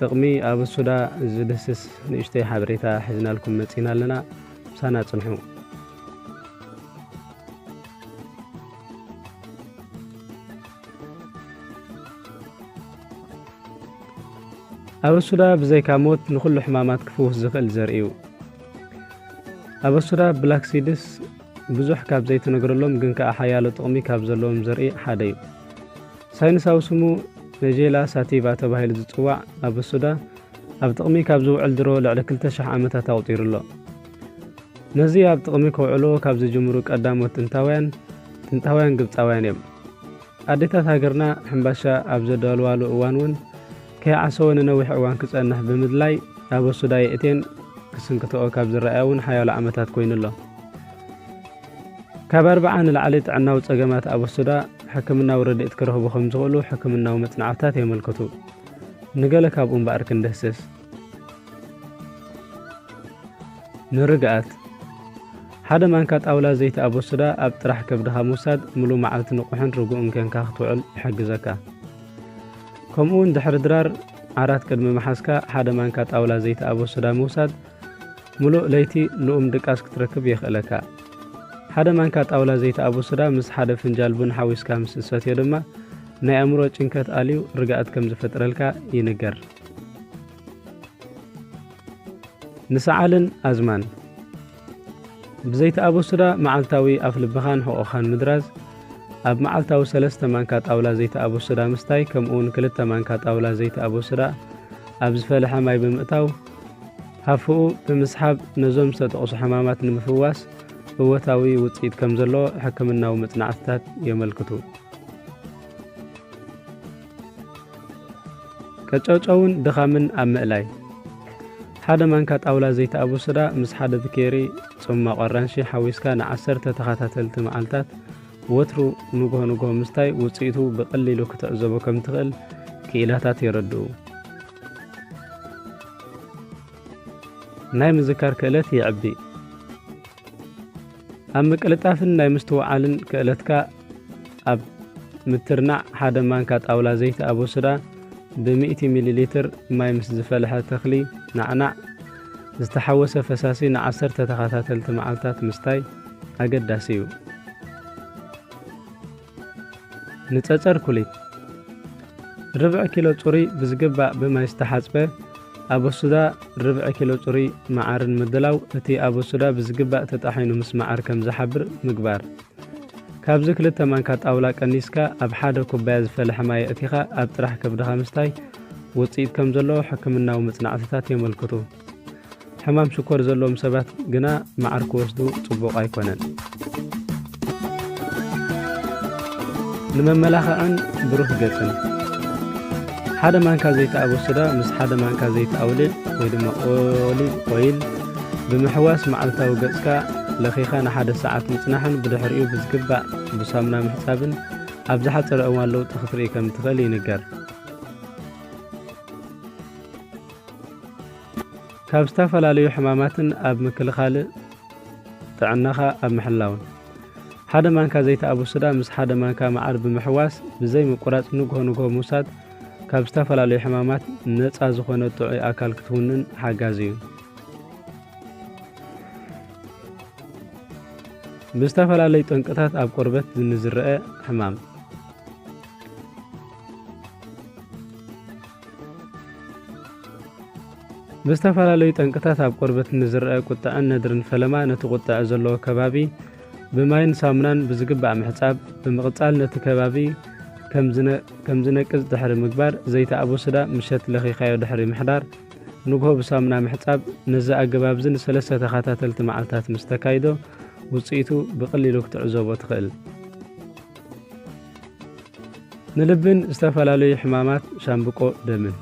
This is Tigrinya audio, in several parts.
ጥቕሚ ኣብሱዳ ዝድህስስ ንእሽተይ ሓበሬታ ሒዝናልኩም መጺና ኣለና። ምሳና ጽንሑ። ኣበሱዳ ብዘይካ ሞት ንኹሉ ሕማማት ክፍውስ ዝኽእል ዘርኢ እዩ። ኣበሱዳ ብላክሲድስ ብዙሕ ካብ ዘይተነግረሎም ግን ከኣ ሓያሎ ጥቕሚ ካብ ዘለዎም ዘርኢ ሓደ እዩ። ሳይንሳዊ ስሙ ነጄላ ሳቲቫ ተባሂሉ ዝጽዋዕ ኣብ ብሱዳ ኣብ ጥቕሚ ካብ ዝውዕል ድሮ ልዕሊ 2,000 ዓመታት ኣቑጺሩ ኣሎ። ነዚ ኣብ ጥቕሚ ከውዕልዎ ካብ ዝጅምሩ ቀዳሞት ጥንታውያን፣ ጥንታውያን ግብጻውያን እዮም። ኣዴታት ሃገርና ሕምባሻ ኣብ ዘዳልዋሉ እዋን እውን ከይዓሰወ ንነዊሕ እዋን ክጸንሕ ብምድላይ ኣብ ኣሱዳ የእቴን ክስንክትኦ ካብ ዝረኣያ እውን ሓያሎ ዓመታት ኮይኑ ኣሎ። ካብ ኣርብዓ ንላዕሊ ጥዕናዊ ጸገማት ኣብ ኣሱዳ ሕክምናዊ ረድኤት ክረኽቡ ከም ዝኽእሉ ሕክምናዊ መጽናዕትታት የመልክቱ። ንገለ ካብኡ እምበኣር ክንድህስስ። ንርግኣት ሓደ ማንካ ጣውላ ዘይቲ ኣብ ኣሱዳ ኣብ ጥራሕ ከብድኻ ምውሳድ ምሉእ መዓልቲ ንቑሕን ርጉእን ኬንካ ክትውዕል ይሕግዘካ። ከምኡውን ድሕሪ ድራር ዓራት ቅድሚ ምሓዝካ ሓደ ማንካ ጣውላ ዘይቲ ኣቦ ሶዳ ምውሳድ ምሉእ ለይቲ ልኡም ድቃስ ክትረክብ የኽእለካ። ሓደ ማንካ ጣውላ ዘይቲ ኣቦ ሶዳ ምስ ሓደ ፍንጃል ቡን ሓዊስካ ምስ እትሰትዮ ድማ ናይ ኣእምሮ ጭንከት ኣልዩ ርግኣት ከም ዝፈጥረልካ ይንገር። ንሰዓልን ኣዝማን ብዘይተኣበሱዳ መዓልታዊ ኣፍልብኻን ሕቖኻን ምድራዝ፣ ኣብ መዓልታዊ ሰለስተ ማንካ ጣውላ ዘይተኣበሱዳ ምስታይ ከምኡውን ክልተ ማንካ ጣውላ ዘይተኣበሱዳ ኣብ ዝፈለሐ ማይ ብምእታው ሃፍኡ ብምስሓብ ነዞም ዝተጠቕሱ ሕማማት ንምፍዋስ እወታዊ ውፅኢት ከም ዘለዎ ሕክምናዊ መፅናዕትታት የመልክቱ። ቀጨውጨውን ድኻምን ኣብ ምእላይ ሓደ ማንካ ጣውላ ዘይተኣቡ ስዳ ምስ ሓደ ብኬሪ ጽማቕ ኣራንሺ ሓዊስካ ንዓሰርተ ተኸታተልቲ መዓልታት ወትሩ ንግሆ ንግሆ ምስታይ ውጽኢቱ ብቐሊሉ ክትዕዘቦ ከም ትኽእል ክኢላታት የረድኡ። ናይ ምዝካር ክእለት የዕቢ። ኣብ ምቅልጣፍን ናይ ምስትውዓልን ክእለትካ ኣብ ምትርናዕ ሓደ ማንካ ጣውላ ዘይቲ ኣቦስዳ ብ100 ሚሊ ሊትር ማይ ምስ ዝፈልሐ ተኽሊ ናዕናዕ ዝተሓወሰ ፈሳሲ ንዓሰርተ ተኸታተልቲ መዓልታት ምስታይ ኣገዳሲ እዩ። ንጸጸር ኩሊት ርብዒ ኪሎ ጽሩይ ብዝግባእ ብማይ ዝተሓጽበ ኣበሱዳ ርብዒ ኪሎ ጽሩይ መዓርን ምድላው እቲ ኣበሱዳ ብዝግባእ ተጣሒኑ ምስ መዓር ከም ዝሓብር ምግባር ካብዚ ክልተ ማንካ ጣውላ ቀኒስካ ኣብ ሓደ ኩባያ ዝፈለሐ ማይ ኣእቲኻ ኣብ ጥራሕ ከብድኻ ምስታይ ውጽኢት ከም ዘለዎ ሕክምናዊ መጽናዕትታት የመልክቱ። ሕማም ሽኮር ዘለዎም ሰባት ግና መዓር ክወስዱ ጽቡቕ ኣይኮነን። ንመመላኽዕን ብሩህ ገጽን ሓደ ማንካ ዘይቲ ኣቦስዳ ምስ ሓደ ማንካ ዘይቲ ኣውሊዕ ወይ ድማ ኦሊቭ ኦይል ብምሕዋስ መዓልታዊ ገጽካ ለኺኻ ንሓደ ሰዓት ምጽናሕን ብድሕሪኡ ብዝግባእ ብሳሙና ምሕጻብን ኣብ ዝሓጸረ እዋን ለውጢ ክትርኢ ከም እትኽእል ይንገር። ካብ ዝተፈላለዩ ሕማማትን ኣብ ምክልኻል ጥዕናኻ ኣብ ምሕላውን ሓደ ማንካ ዘይቲ ኣቡሱዳ ምስ ሓደ ማንካ መዓር ብምሕዋስ ብዘይ ምቁራጽ ንግሆ ንግሆ ምውሳድ ካብ ዝተፈላለዩ ሕማማት ነፃ ዝኾነ ጥዑይ ኣካል ክትውንን ሓጋዚ እዩ። ብዝተፈላለዩ ጠንቅታት ኣብ ቆርበት ንዝረአ ሕማም ብዝተፈላለዩ ጠንቅታት ኣብ ቆርበት ንዝረአ ቁጠዐን ነድርን ፈለማ ነቲ ቁጠዐ ዘለዎ ከባቢ ብማይን ሳሙናን ብዝግባእ ምሕፃብ ብምቕፃል ነቲ ከባቢ ከም ዝነቅዝ ድሕሪ ምግባር ዘይቲ ኣቦስዳ ምሸት ለኺኻዮ ድሕሪ ምሕዳር ንግሆ ብሳሙና ምሕፃብ ነዚ ኣገባብ እዚ ንሰለስተ ተኸታተልቲ መዓልታት ምስ ተካይዶ ውፅኢቱ ብቐሊሉ ክትዕዘቦ ትኽእል። ንልብን ዝተፈላለዩ ሕማማት ሻምብቆ ደምን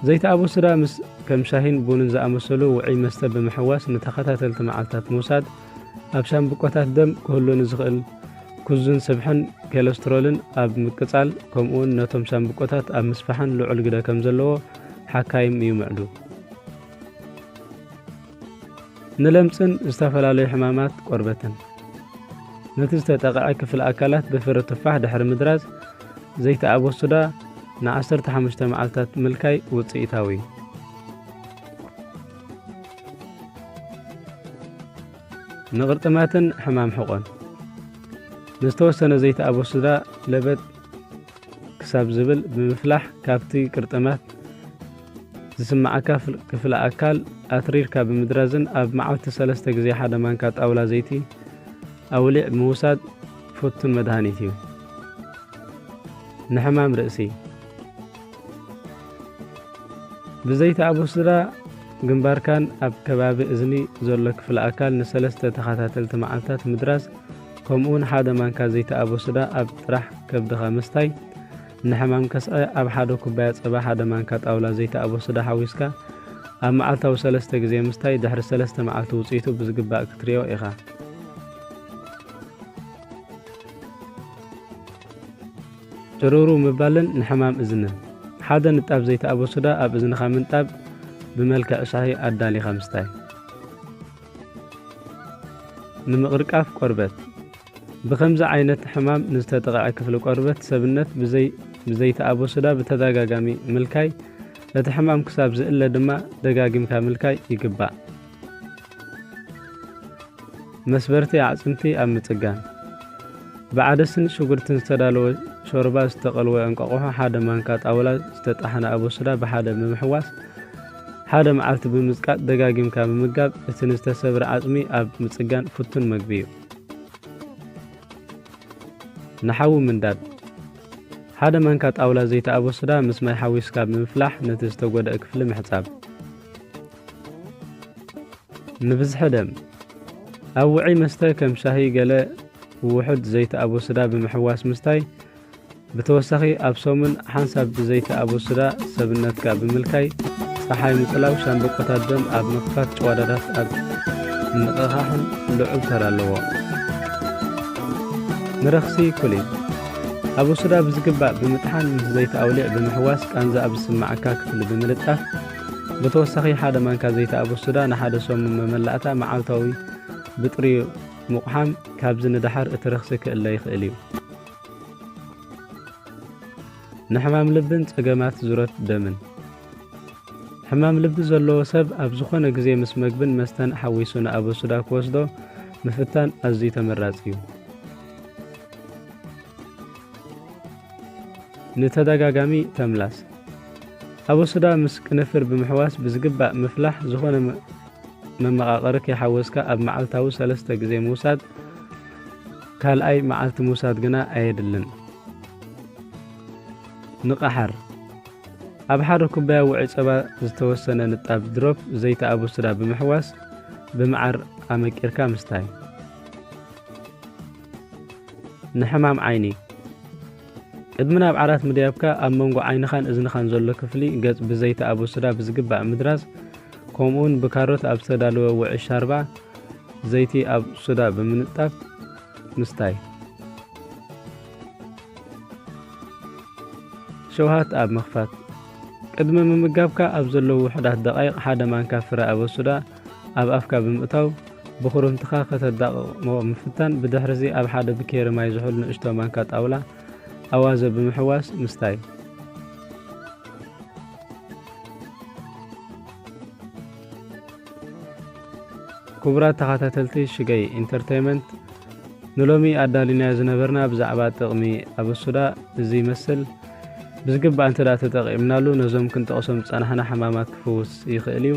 ዘይተኣበሱዳ ምስ ከም ሻሂን ቡንን ዝኣመሰሉ ውዑይ መስተ ብምሕዋስ ንተኸታተልቲ መዓልታት ምውሳድ ኣብ ሻምብቆታት ደም ክህሉ ንዝኽእል ኩዙን ስብሕን ኬለስትሮልን ኣብ ምቅጻል ከምኡውን ነቶም ሻምብቆታት ኣብ ምስፋሕን ልዑል ግደ ከም ዘለዎ ሓካይም ይምዕዱ። ንለምጽን ዝተፈላለዩ ሕማማት ቆርበትን ነቲ ዝተጠቕዐ ክፍሊ ኣካላት ብፍረ ቱፋሕ ድሕሪ ምድራዝ ዘይተኣቦ ሱዳ ን15 መዓልታት ምልካይ ውጽኢታዊ እዩ። ንቕርጥማትን ሕማም ሕቖን ንዝተወሰነ ዘይተኣቦ ሱዳ ለበጥ ክሳብ ዝብል ብምፍላሕ ካብቲ ቅርጥማት ዝስመዓካ ክፍለ ኣካል ኣትሪርካ ብምድራዝን ኣብ መዓልቲ ሰለስተ ግዜ ሓደ ማንካ ጣውላ ዘይቲ ኣውሊዕ ምውሳድ ፍቱን መድሃኒት እዩ። ንሕማም ርእሲ ብዘይቲ ኣቡስድራ ግንባርካን ኣብ ከባቢ እዝኒ ዘሎ ክፍለ ኣካል ንሰለስተ ተኸታተልቲ መዓልታት ምድራዝ ከምኡውን ሓደ ማንካ ዘይተኣበ ሱዳ ኣብ ጥራሕ ከብድኻ ምስታይ፣ ንሕማም ከስዐ ኣብ ሓደ ኩባያ ጸባ ሓደ ማንካ ጣውላ ዘይተኣበ ሱዳ ሓዊስካ ኣብ መዓልታዊ ሰለስተ ግዜ ምስታይ ድሕሪ ሰለስተ መዓልቲ ውጽኢቱ ብዝግባእ ክትሪኦ ኢኻ። ጭርሩ ምባልን ንሕማም እዝንን ሓደ ንጣብ ዘይተኣበሱዳ ኣብ እዝንኻ ምንጣብ ብመልክዕ ሻሂ ኣዳሊኻ ምስታይ ንምቕርቃፍ ቆርበት፣ ብኸምዚ ዓይነት ሕማም ንዝተጠቕዐ ክፍሊ ቆርበት ሰብነት ብዘይቲ ኣቦስዳ ብተደጋጋሚ ምልካይ፣ እቲ ሕማም ክሳብ ዝእለ ድማ ደጋጊምካ ምልካይ ይግባእ። መስበርቲ ኣዕፅምቲ ኣብ ምፅጋን ብዓደስን ሽጉርትን ዝተዳለወ ሾርባ ዝተቐልወ እንቋቑሖ ሓደ ማንካ ጣውላ ዝተጣሕነ ኣቦስዳ ብሓደ ብምሕዋስ ሓደ መዓልቲ ብምጽቃጥ ደጋጊምካ ምምጋብ እቲ ንዝተሰብረ ዓጽሚ ኣብ ምጽጋን ፍቱን መግቢ እዩ። ንሓዊ ምንዳድ ሓደ ማንካ ጣውላ ዘይቲ ኣበሱዳ ምስ ማይ ሓዊስካ ብምፍላሕ ነቲ ዝተጎድአ ክፍሊ ምሕጻብ። ንብዝሒ ደም ኣብ ውዑይ መስተ ከም ሻሂ ገለ ውሑድ ዘይቲ ኣበሱዳ ብምሕዋስ ምስታይ ብተወሳኺ ኣብ ሰሙን ሓንሳብ ብዘይቲ ኣቦስዳ ሰብነትካ ብምልካይ ጸሓይ ምጽላው ሻምብቆታት ደም ኣብ ምኽፋት ጭዋዳታት ኣብ ምንቕቓሕን ልዑል ተራ ኣለዎ። ንረኽሲ ኮሊን ኣቦስዳ ብዝግባእ ብምጥሓን ምስ ዘይቲ ኣውሊዕ ብምሕዋስ ቃንዛ ኣብ ዝስምዓካ ክፍሊ ብምልጣፍ ብተወሳኺ ሓደ ማንካ ዘይቲ ኣበሱዳ ንሓደ ሰሙን መመላእታ መዓልታዊ ብጥሪኡ ምቑሓም ካብዚ ንደሓር እቲ ረኽሲ ክእለ ይኽእል እዩ። ንሕማም ልብን ጸገማት ዙረት ደምን ሕማም ልቢ ዘለዎ ሰብ ኣብ ዝኾነ ግዜ ምስ መግብን መስተን ሓዊሱ ንኣበሱዳ ክወስዶ ምፍታን ኣዝዩ ተመራጺ እዩ። ንተደጋጋሚ ተምላስ ኣበሱዳ ምስ ቅንፍር ብምሕዋስ ብዝግባእ ምፍላሕ ዝኾነ መመቓቕሪ ከይሓወስካ ኣብ መዓልታዊ ሰለስተ ግዜ ምውሳድ ካልኣይ መዓልቲ ምውሳድ ግና ኣየድልን። ንቐሓር፣ ኣብ ሓደ ኩባያ ውዑይ ጸባ ዝተወሰነ ንጣብ ድሮፕ ዘይቲ ኣቡስዳ ብምሕዋስ ብመዓር ኣመቂርካ ምስታይ። ንሕማም ዓይኒ። ቅድሚ ናብ ዓራት ምድያብካ ኣብ መንጎ ዓይንኻን እዝንኻን ዘሎ ክፍሊ ገጽ ብዘይቲ ኣቦስዳ ብዝግባእ ምድራዝ ከምኡውን ብካሮት ኣብ ዝተዳለወ ውዕይ ሻርባ ዘይቲ ኣብ ሱዳ ብምንጣፍ ምስታይ ሸውሃት ኣብ ምኽፋት ቅድሚ ምምጋብካ ኣብ ዘለዉ ውሑዳት ደቓይቕ ሓደ ማንካ ፍረ ኣበሱዳ ኣብ ኣፍካ ብምእታው ብኹርምትኻ ከተዳቕቕሞ ምፍታን፣ ብድሕርዚ ኣብ ሓደ ብኬሪ ማይ ዝሑል ንእሽቶ ማንካ ጣውላ ኣዋዘ ብምሕዋስ ምስታይ። ክቡራት ተኸታተልቲ ሽገይ ኢንተርተይመንት ንሎሚ ኣዳሊናዮ ዝነበርና ብዛዕባ ጥቕሚ ኣበሱዳ እዚ ይመስል። ብዝግባእ እንተ ተጠቒምናሉ ነዞም ክንጠቕሶም ዝጸናሕና ሕማማት ክፍውስ ይኽእል እዩ።